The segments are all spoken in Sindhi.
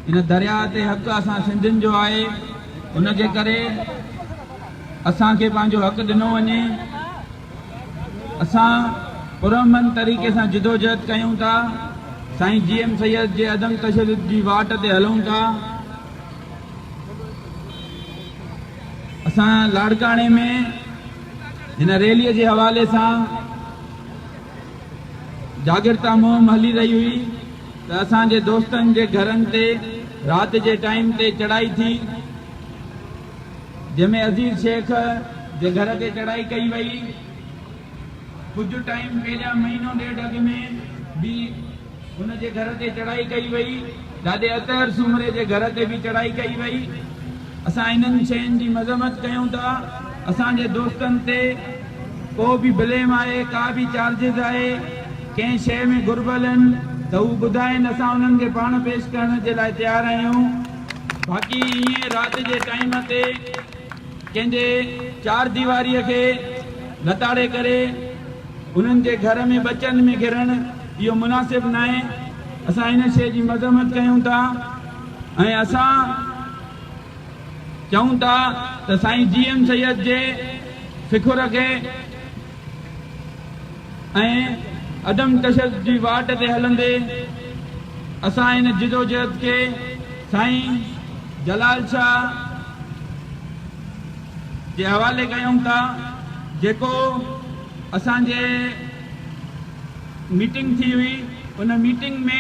ان درياء تي حق اسان سنڌين جو آهي ان جي ڪري اسان کي پنهنجو حق ڏنو وڃي اسان پرامن طريقي سان جدوجهد ڪيون ٿا سائين جي ايم سيد جي عدم تشدد جي واٽ تي هلون ٿا اسان لاڙڪاڻي ۾ هن ريلي جي حوالي سان جاڳرتا مهم هلي رهي هئي ته اسان جي دوستن جي گهرن تي رات جي ٽائيم تي چڙهائي ٿي جنهن ۾ عزيز شيخ جي گهر تي چڙهائي ڪئي وئي ڪجهه ٽائيم پهريان مهينو ڏيڍ اڳ ۾ به هن جي گهر تي چڙهائي ڪئي وئي. ڏاڏي اطهر سومري جي گهر تي به چڙهائي ڪئي وئي. اسان انهن شين جي مذمت ڪيون ٿا. اسان جي دوستن تي ڪو به بليم آهي، ڪا به چارجز آهي، ڪنهن شيء ۾ گهربل هن ته هو ٻڌائين، اسان انهن کي پاڻ پيش ڪرڻ جي لاء تيار آهيون. باقي ائين رات جي ٽائيم تي ڪنهن جي چارديواريء کي لتاڙي ڪري انهن جي گهر ۾ ٻچن ۾ گهرڻ، اهو مناسب ناهي، اسان ان شيء جي مذمت ڪيون ٿا ۽ اسان چئون ٿا ته سائين جي ايم سيد جي فڪر کي ۽ عدم تشدد جي واٽ تي هلندي اسان ان جدوجهد کي سائين جلال شاهه جي حوالي ڪيون ٿا جيڪو اسان جي ميٽنگ ٿي هئي ان ميٽنگ ۾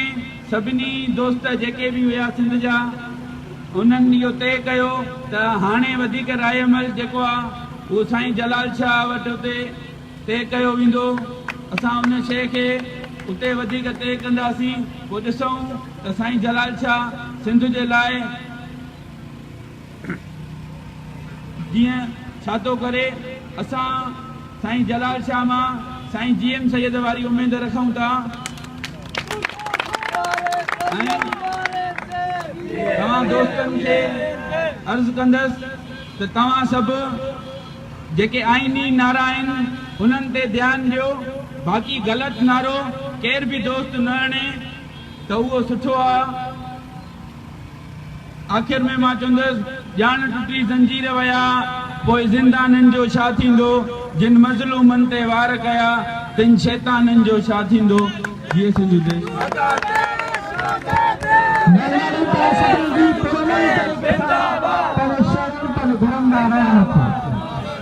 سڀني دوست جيڪي به هيا سنڌ جا انهن اهو طئي ڪيو ته هاڻي وڌيڪ راء عمل جيڪو آ اهو سائين جلال شاهه وٽ اتي طئي ڪيو ويندو اسان ان شيء کي اتي وڌيڪ طئي ڪنداسين پوء ڏسون ته سائين جلال شاهه سنڌ جي لاء جيئن ڇا ٿو ڪري اسان سائين جلال شاهه مان سائين جي ايم سيد واري اميد رکون ٿا ۽ توهان دوستن کي عرض ڪندس ته توهان سڀ جيڪي آئيني نعرا آهن انهن تي ڌيان ڏيو باقي غلط نعرو ڪير به دوست نه اڻي ته اهو سٺو آهي. آخر ۾ مان چوندس، ڄاڻ ٽٽي زنجير ويا، پوء زندانين جو ڇا ٿيندو؟ جن مظلومن تي وار ڪيا، تن شيطانن جو ڇا ٿيندو؟ جيئي سنڌو ديس!